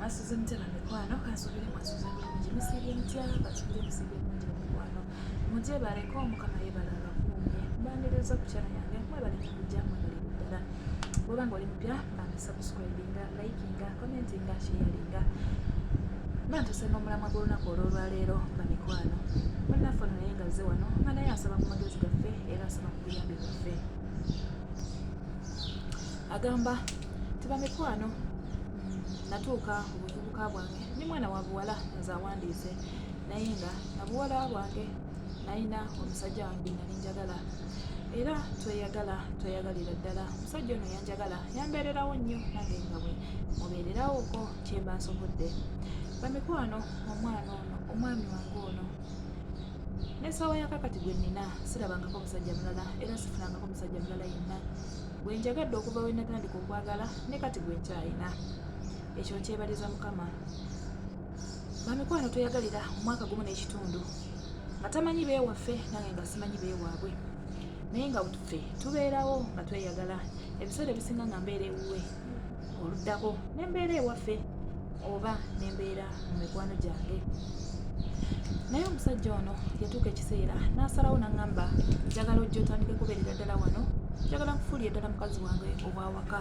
Asuze mutya na mikwano kansubire mwasuze bulungi musiibye mutya kansubire musiibye bulungi na mikwano mugyebaleko mukama yebala abakuumye mbaniriza ku kyana yange mwebale kujja mwebale ddala bwoba nga oli mupya bambi subscribinga likinga commentinga sharinga bantuse n'omulamwa gw'olunaku olw'olwaleero nga mikwano munnaffe ono naye ngazze wano nga naye asaba ku magezi gaffe era asaba ku buyambi bwaffe agamba tiba mikwano natuuka obuvubuka bwange ni mwana wa buwala nze awandiise naye nga nabuwala bwange nalina omusajja wange nali njagala era tweyagala tweyagalira ddala omusajja ono yanjagala yambeererawo nnyo nange nga bwe mubeererawo ko kyemba nsobodde bamikwano omwana ono omwami wange ono n'ensaawa ya kakati gwe nnina sirabangako musajja mulala era sifunangako musajja mulala yenna gwe njagadde okuva we natandika okwagala ne kati gwe nkyayina ekyo nkyebaliza mukama bamikwano tweyagalira omwaka gumu n'ekitundu nga tamanyi beewaffe nange nga simanyi beewaabwe naye nga ffe tubeerawo nga tweyagala ebiseera ebisinga nga mbeera ewuwe oluddako ne mbeera ewaffe oba ne mbeera mu mikwano gyange naye omusajja ono yatuuka ekiseera n'asalawo n'aŋŋamba njagala ojja otandike kubeerera ddala wano njagala nkufuulire ddala mukazi wange ow'awaka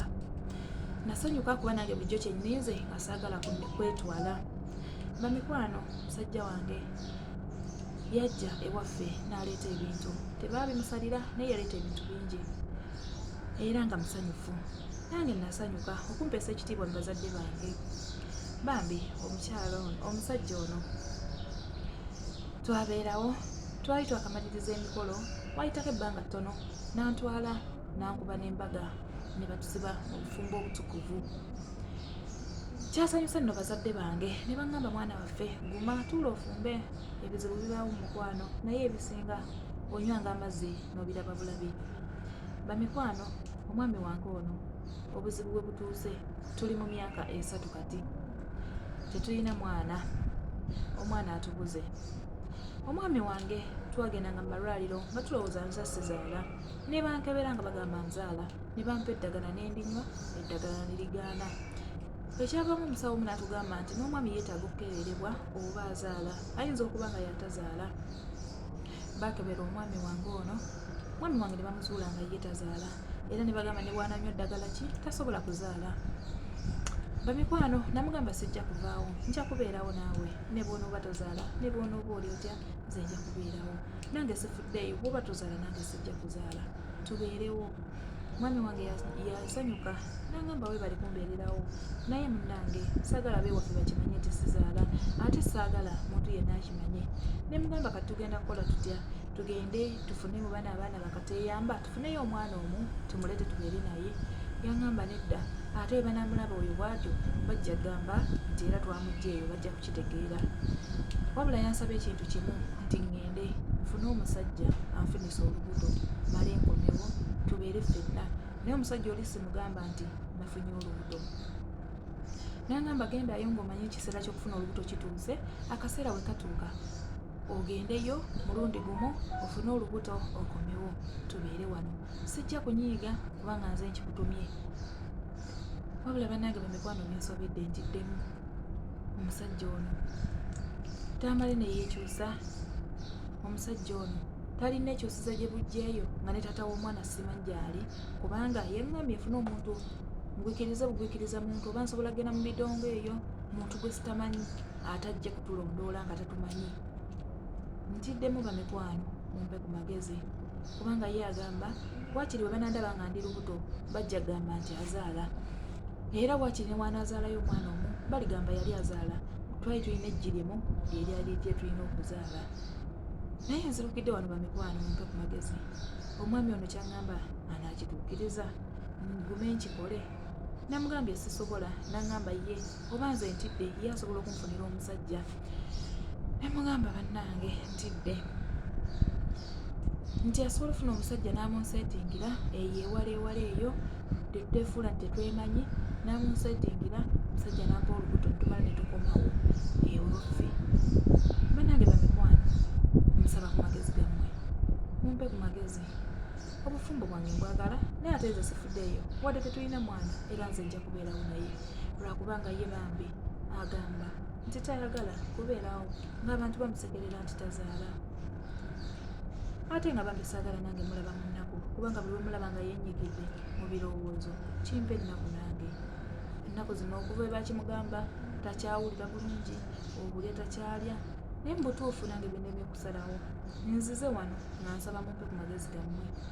nasanyuka kuba nange bulijjo kyenninze nga saagala kwetwala bamikwano musajja wange yajja ewaffe n'aleeta ebintu tebaabimusalira naye yaleeta ebintu bingi era nga musanyufu nange nasanyuka okumpeesa ekitiibwa mu bazadde bange bambi omukyala ono omusajja ono twabeerawo twali twakamaliriza emikolo wayitako ebbanga ttono n'antwala n'ankuba n'embaga ne batusiba mu bufumbo obutukuvu kyasanyusa nno bazadde bange ne baŋŋamba mwana waffe guma tuula ofumbe ebizibu bibaawo mu mukwano naye ebisinga onywanga amazzi nobiraba bulabi bamikwano omwami wange ono obuzibu bwe butuuse tuli mu myaka esatu kati tetulina mwana omwana atubuze omwami wange twagendanga mu malwaliro nga tulowooza nza sizaala ne bankebera nga bagamba nzaala ne bampa eddagala nendinywa eddagala nirigaana ekyavamu omusawo omu natugamba nti n'omwami yeetaaga okukeberebwa oba azaala ayinza okuba nga yatazaala baakebera omwami wange ono omwami wange ne bamuzuula nga ye tazaala era ne bagamba ne bwananywa eddagala ki tasobola kuzaala bamikwano namugamba sijja kuvaawo nja kubeerawo naawe ne bwonooba tozaala ne bwonooba oli otya nze nja kubeerawo nange sifuddeeyo bwoba tozaala nange sijja kuzaala tubeerewo mwami wange yasanyuka nangamba webali kumbeererawo naye munange sagala bewafe bakimanye nti sizaala ate saagala muntu yenna akimanye ne mugamba kati tugenda kukola tutya tugende tufune mu bana abaana bakateyamba tufuneyo omwana omu tumulete tubeere naye yangamba nedda ate webanamulaba oyo bwatyo bajja gamba nti era twamugjeeyo bajja kukitegeera wabula yansaba ekintu kimu nti ŋŋende nfune omusajja anfune nzisa olubuto male nkomewo tubeere ffenna naye omusajja oli simugamba nti nafunye olubuto nangamba gendayo ngaomanyi ekiseera kyokufuna olubuto kituuse akaseera we katuuka ogendeyo mulundi gumu ofune olubuto okomewo tubeere wano sijja kunyiiga kubanga nze nkikutumye wabula banange bamikwano minsobedde ntiddemu omusajja ono tamale neyekyusa omusajja ono talina ekyosuza gye bujjeeyo nga ne taata w'omwana simanyi gyali kubanga yeŋŋambye efuna omuntu ngwikiriza bugwikiriza muntu oba nsobola genda mu midongo eyo muntu gwe sitamanyi atajja kutulondoola nga tatumanyi ntiddemu bamikwano mumpe ku magezi kubanga ye agamba wakiri bwe banandaba nga ndi lubuto bajja gamba nti azaala era wakiri ne waanaazaalayo omwana omu baligamba yali azaala twali tulina ejjirimu eryali lyetulina okuzaala naye nzirukidde wano bamikwano mumpe ku magezi omwami ono kyaŋŋamba anaakituukiriza ngume nkikole namugambye sisobola naŋŋamba ye oba nze ntidde ye asobola okunfunira omusajja namugamba bannange ntidde nti asobola ofuna omusajja n'amunseetingira eyo ewala ewala eyo tetwefuula nti tetwemanyi namunsetingira musajja nampa olubuto tumala netukomawo ewaffe banange bamikwano musaba ku magezi gammwe mumpe ku magezi obufumbo bwange mbwagala naye ate nze sifuddeeyo wadde tetulina mwana era nze nja kubeerawo naye lwakubanga ye bambi agamba nti tayagala kubeerawo ng'abantu bamusekerera nti tazaala ate nga bambi saagala nange mulaba mu nnaku kubanga buli wemulaba nga yenyigidde mu birowoozo kimpa ennaku nange ennaku zino okuva ebakimugamba takyawulira bulungi obulya takyalya naye mubutuufu nange bindemye okusalawo nzize wano nga nsaba mumpe ku magezi gammwe